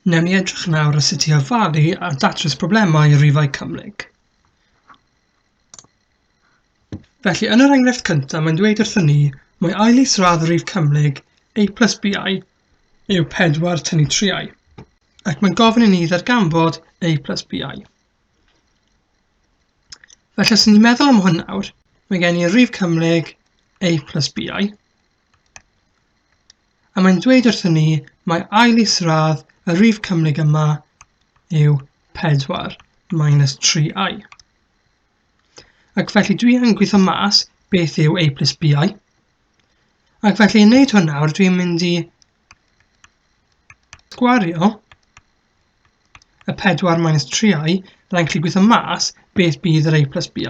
Wnewn ni edrych nawr o sut i ofalu a datrys problemau i rifau cymhlyg. Felly, yn yr enghraifft cyntaf, mae'n dweud wrthyn ni mae ail isradd rif cymhlyg a plus bi yw 4 tynnu 3i, ac mae'n gofyn i ni ddarganfod a plus bi. Felly, os ni'n meddwl am hwn nawr, mae gen i rif cymhlyg a plus bi, A mae'n dweud wrthyn ni mae ail isradd y rif cymhlyg yma yw 4 minus 3i. Ac felly dwi yn gweithio mas beth yw a plus bi. Ac felly i wneud hwn nawr dwi'n mynd i gwario y 4 minus 3i, byddai'n gallu gweithio mas beth bydd yr a plus bi.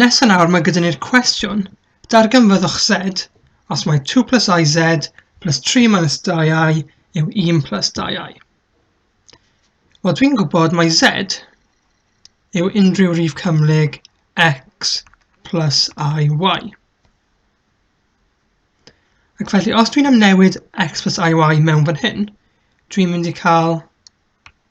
Nesa nawr mae gyda ni'r cwestiwn, darganfyddwch z os mae 2 plus i z plus 3 minus 2i yw 1 plus 2i. Wel, dwi'n gwybod mae z yw unrhyw rif cymhlyg x plus i y. Ac felly, os dwi'n amnewid x plus i y mewn fan hyn, dwi'n mynd i cael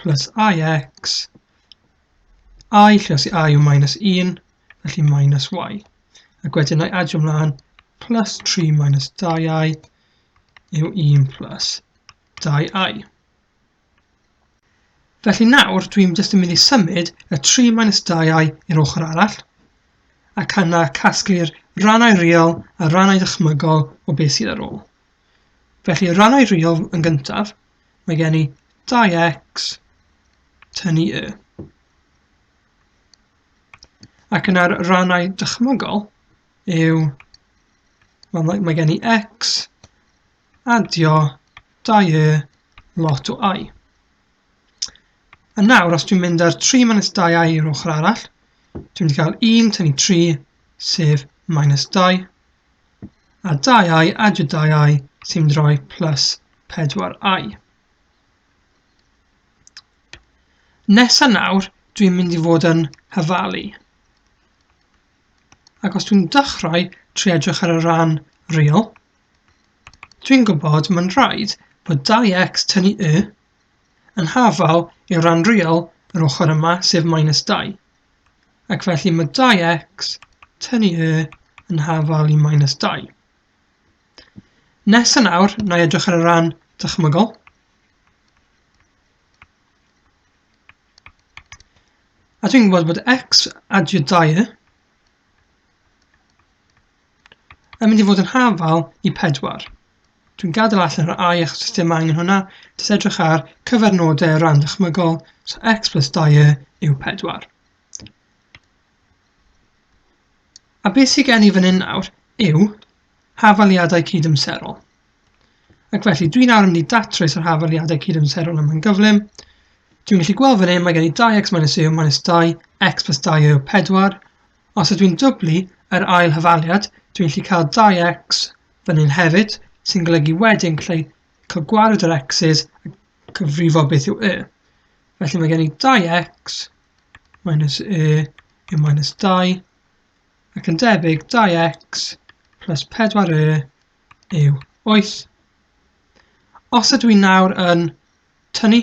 plus ix, i lle os i i yw minus 1, felly minus y. Ac wedyn na i adio mlaen plus 3 minus 2i yw 1 plus 2i. Felly nawr dwi'n jyst yn mynd i symud y 3 minus 2i i'r ochr arall, ac yna casglu'r rannau real a rannau dychmygol o beth sydd ar ôl. Felly rannau real yn gyntaf, mae gen i 2x tynnu y. Ac yna'r rannau dychmygol yw, mae, mae gen i x adio 2y lot o i. A nawr, os dwi'n mynd ar 3 minus 2i i'r ochr arall, dwi'n mynd i gael 1 tynnu 3, sef minus 2, a 2i add y 2i sy'n rhoi plus 4i. Nesa nawr, dwi'n mynd i fod yn hyfalu. Ac os dwi'n dechrau trwy edrych ar y ran real, dwi'n gwybod mae'n rhaid bod 2x tynnu y yn hafal i'r ran real yr ochr yma, sef minus 2. Ac felly mae 2x tynnu y yn hafal i minus 2. Nesa nawr, na i edrych ar y ran dychmygol. A dwi'n gwybod bod x adio 2 Mae'n mynd i fod yn hafal i pedwar. Dwi'n gadael allan yr I achos does dim angen hwnna. Jyst edrych ar cyfernodau rhan dychmygol, so x plus 2 yw 4. A beth sydd gen i fan hyn nawr yw hafaliadau cydymserol. Ac felly, dwi'n nawr yn mynd i datrys yr hafaliadau cydymserol yma'n gyflym. Dwi'n gallu gweld fan hyn, mae gen i 2x minus u minus 2, x plus 2 yw 4, Os ydw i'n dwblu yr ail hyfaliad, dwi'n gallu cael dau X fan hyn hefyd, sy'n golygu wedyn gallu cael gwared yr X's a cyfrifo beth yw Y. Felly mae gen i dau X minus Y yw minus 2, ac yn debyg dau X plus 4 Y yw 8. Os ydw i nawr yn tynnu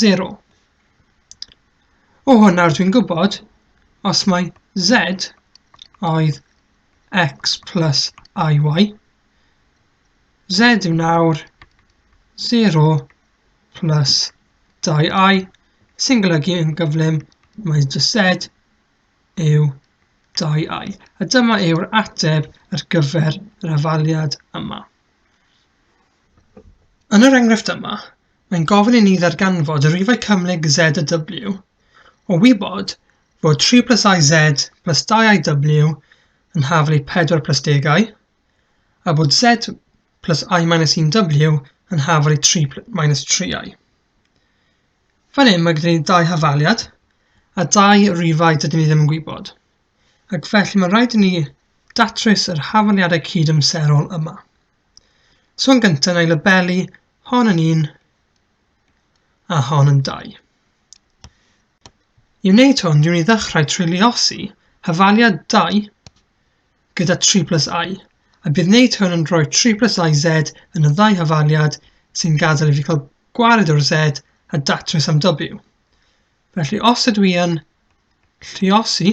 0. O hwnna dwi'n gwybod, os mae z oedd x plus iy, z yw nawr 0 plus 2i, sy'n golygu yn gyflym mae jyst z yw 2i. A dyma yw'r ateb ar gyfer yr afaliad yma. Yn yr enghraifft yma, Mae'n gofyn i ni ddarganfod y rifau cymhlyg z a w, o wybod fod 3 plus i z plus 2 i w yn hafel i 4 plus degau, a bod z plus i minus 1 w yn hafel i 3 minus 3 i. Fan hyn mae gyda ni dau hafaliad, a dau rifau dydyn ni ddim yn gwybod, ac felly mae'n rhaid i ni datrys yr hafaliadau cyd-amserol yma. So yn gyntaf na i labelu hon yn un a hon yn dau. I wneud hwn, dwi'n i ddechrau trwy liosi hyfaliad 2 gyda 3 plus i, a bydd wneud hwn yn rhoi 3 plus i z yn y ddau hyfaliad sy'n gadael i fi cael gwared o'r z a datrys am w. Felly os ydw i yn lliosi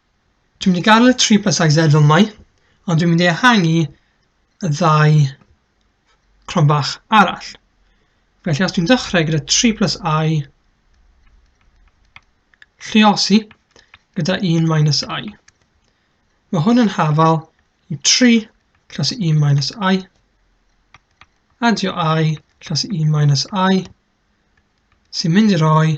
Dwi'n mynd i gael y tri plus size Z fel mai, ond dwi'n mynd i ehangu y ddau cron bach arall. Felly os dwi'n dechrau gyda 3 plus i, lliosi gyda 1 minus i. Mae hwn yn hafal i 3 lliosi 1 minus i, adio i lliosi 1 minus i, sy'n mynd i roi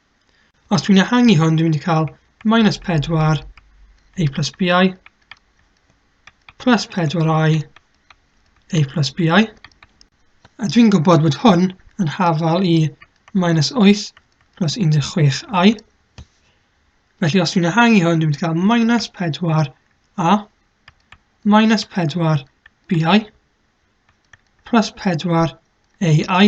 Os dwi'n ehangu hwn, dwi'n mynd i cael minus 4 a plus bi plus 4i a plus bi. A dwi'n gwybod bod hwn yn hafal i minus 8 plus 16i. Felly os dwi'n ehangu hwn, dwi'n mynd i cael minus 4a minus 4 bi plus 4 ai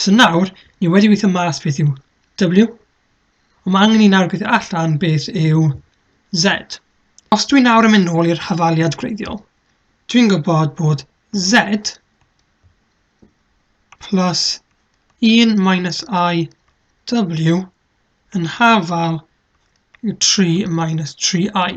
So nawr, ni wedi weithio mas beth yw W, ond mae angen i nawr gweithio allan beth yw Z. Os dwi'n nawr yn mynd nôl i'r hafaliad gwreiddiol, dwi'n gwybod bod Z plus 1 minus i W yn hafal yw 3 minus 3i.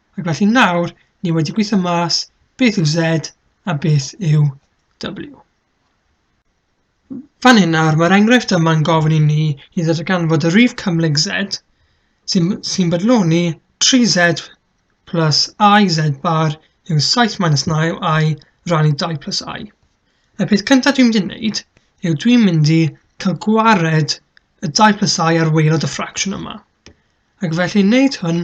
Ac felly nawr, ni wedi gweithio mas beth yw Z a beth yw W. Fan hyn nawr, mae'r enghraifft yma'n gofyn i ni i ddatganfod y rif cymhlyg Z sy'n sy bodloni 3Z plus IZ bar yw 7 minus 9 I ran i 2 plus I. Y peth cyntaf dwi'n mynd i wneud yw dwi'n mynd i cael gwared y 2 plus I ar waelod y ffracsiwn yma. Ac felly wneud hwn,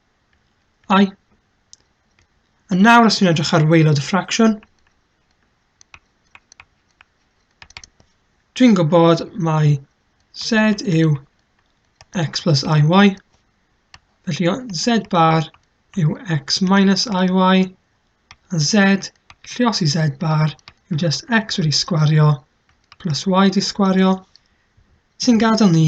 i. A nawr os ni'n edrych ar waelod y ffracsiwn, dwi'n gwybod mae z yw x plus iy, felly z bar yw x minus iy, a z, llios i z bar, yw just x wedi sgwario plus y wedi sgwario, sy'n gadael ni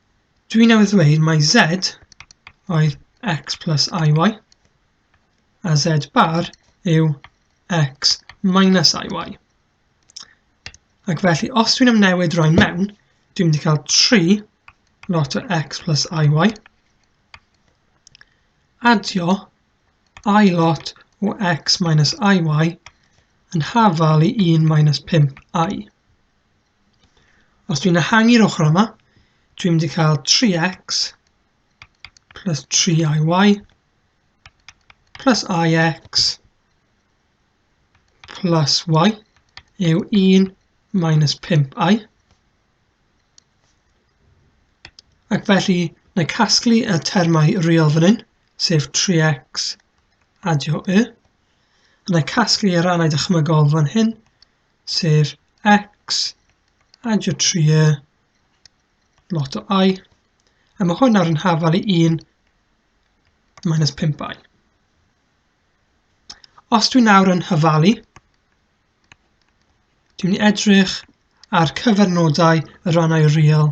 Dwi newydd ddweud mae z oedd x plus iy, a z bar yw x minus iy. Ac felly, os dwi'n ymnewid rhain mewn, dwi'n mynd i cael 3 lot o x plus iy, adio i lot o x minus iy yn hafal i 1 minus 5i. Os dwi'n ehangu'r ochr yma, dwi'n mynd i cael 3x plus 3iy plus ix plus y yw 1 minus 5i. Ac felly, na casglu y termau real fan hyn, sef 3x adio y. Na casglu y rannau dychmygol fan hyn, sef x adio 3 lot o i, a mae hwn nawr yn hafal i 1 minus 5i. Os dwi'n nawr yn hyfalu, dwi'n edrych ar cyfernodau y rannau real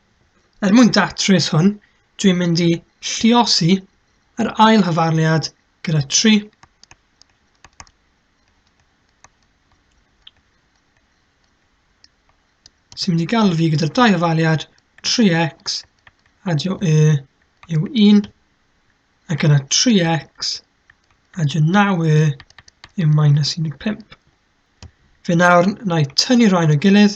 Er mwyn datrys hwn, dwi'n mynd i lliosi yr ail hyfarliad gyda 3. sy'n mynd i gael fi gyda'r dau hyfarliad 3x adio y yw 1 ac yna 3x adio 9y yw minus 15. Fe nawr na i tynnu rhain o gilydd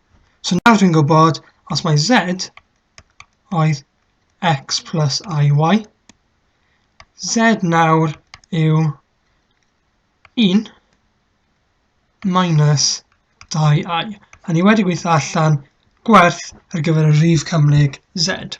So nawr dwi'n gwybod os mae z oedd x plus iy, z nawr yw 1 minus 2i. A ni wedi gweithio allan gwerth ar gyfer y rif cymhlyg z.